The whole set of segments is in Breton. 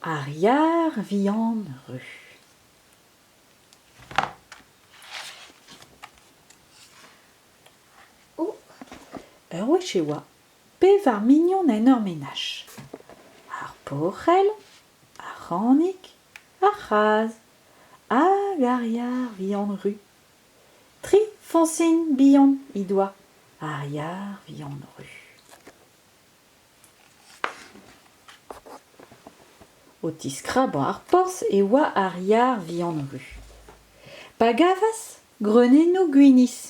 Ar yar vihan ru. Oh, ur wech e oa pevar mignon en ur menaj. Ar paourell, ar c'hanig, ar c'hazh hag ar yar vihan ru. Tri foñsin bihan he doa, ar yar vihan ru. O tiskrabañ ar porzh e oa ar yar vihan-ru. Pa gavas greunennoù gwinizh.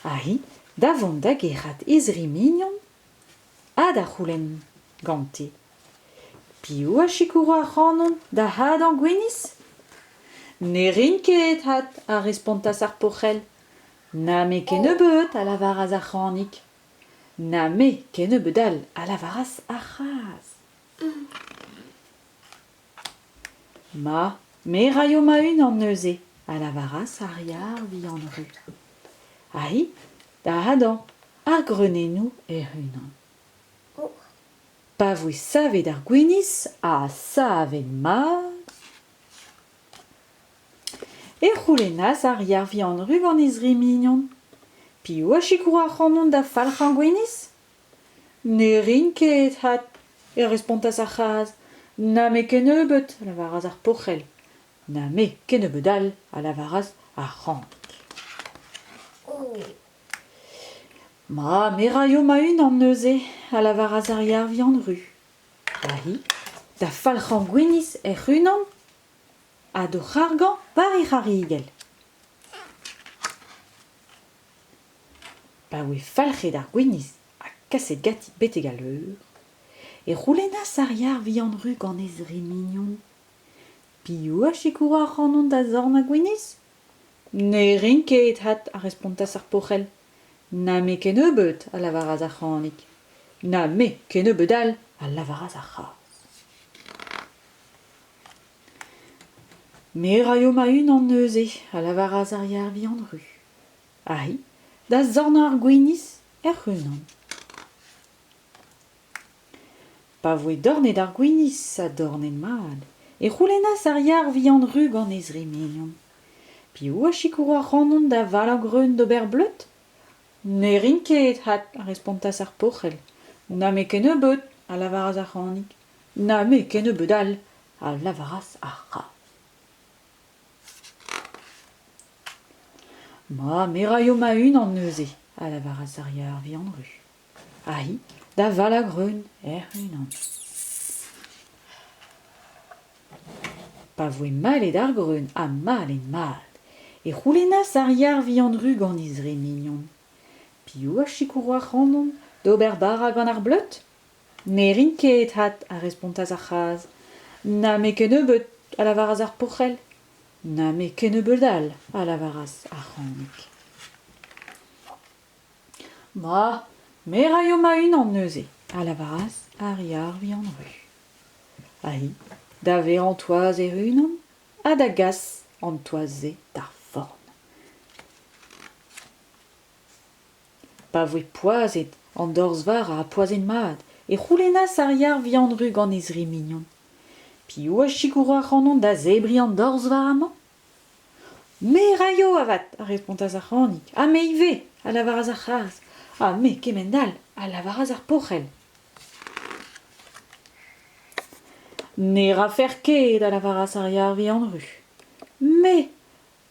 Aze, da vont da gerc'hat e zri mignon ha da c'houlenn gante piv a sikouro ac'hanon da hadañ gwinizh. Ne rin ket, hat, a respontas ar pourc'hell. Na me kennebeut, a lavaras ar c'hanig. Na me kennebeut all, a lavaras ar c'hazh. Ma, me 'raio ma-unan neuze, a lavaras ar yar vihan-ruz. Aïe, da hadañ, ar greunennoù hec'h-unan. Pa voe savet ar gwinizh, ha savet mat... e c'houlennas ar yar-vihan Ruganiz-ri mignon piv a sikour ac'hanon da falc'hañ gwinizh ne rin ket hat e respontas ar c'hazh na me kennebeut a lavaras ar poc'hell na me kennebeut all a lavaras ar c'hrank ma me raio ma-unan neuze a lavaras ar yar-vihan ru ha hi da falc'hañ gwinizh hec'h-unan Ha d'o c'hargañ par he c'harrigell. Pa oe falc'het ar gwinizh ha kaset ganti betek al leur, e c'houlennas ar yar vihan-ru gant he zri mignon Piv a sikouro ac'hanon da zorn ar gwinizh ? Ne rin ket, hat, a respontas ar porc'hell. Na me kennebeut, a lavaras ar c'hanig. Na me kennebeut all, a lavaras ar c'hazh. Me a raio ma-unan neuze, a lavaras ar Yer-Vihan-Ru. Aïe, da zorn ar gwinizh hec'h-unan. Pa voe dornet ar gwinizh ha dornet mat, e c'houlennas ar Yer-Vihan-Ru gant e zri mignon. Piv a sikour ac'hanon da valañ greun d'ober bleud ? Ne rin ket, hat, a respontas ar porc'hell. N'on-me ket nebeut, a lavaras ar c'hanig. Na me kennebeut all, a lavaras ar c'hazh. Ma, me raio ma-unan neuze, a lavaras ar yar vihan-ru. Ahi, da Valagrun hec'h-unan. Pa voe malet ar greun ha malet-mat, e c'houlennas ar yar vihan-ru gant he zre mignon. Piv a sikouro ac'hanon d'ober bara gant ar bleud Ne rin ket, hat, a respontas ar c'hazh. Na me kennebeut, a lavaras ar pourc'hell. Na me kennebeut all, a lavaras ar c'hanig. Ma, me raio ma-unan neuze, a lavaras ar yar vihan-ru. Aïe, da vezañ an toaz hec'h-unan ha da gas an toaz-se d'ar forn. pa voe poazhet an dorzh-varr ha poazhet-mat e c'houlennas ar yar-vihan-ru gant e zri mignon piv a sikouro ac'hanon da zebriñ an dorzh-varr amañ me a raio avat a respontas ar c'hanig ha me ivez a lavaras ar c'hazh ha me kement-all a lavaras ar porc'hell ne rafer ket a lavaras ar yar-vihan-ru me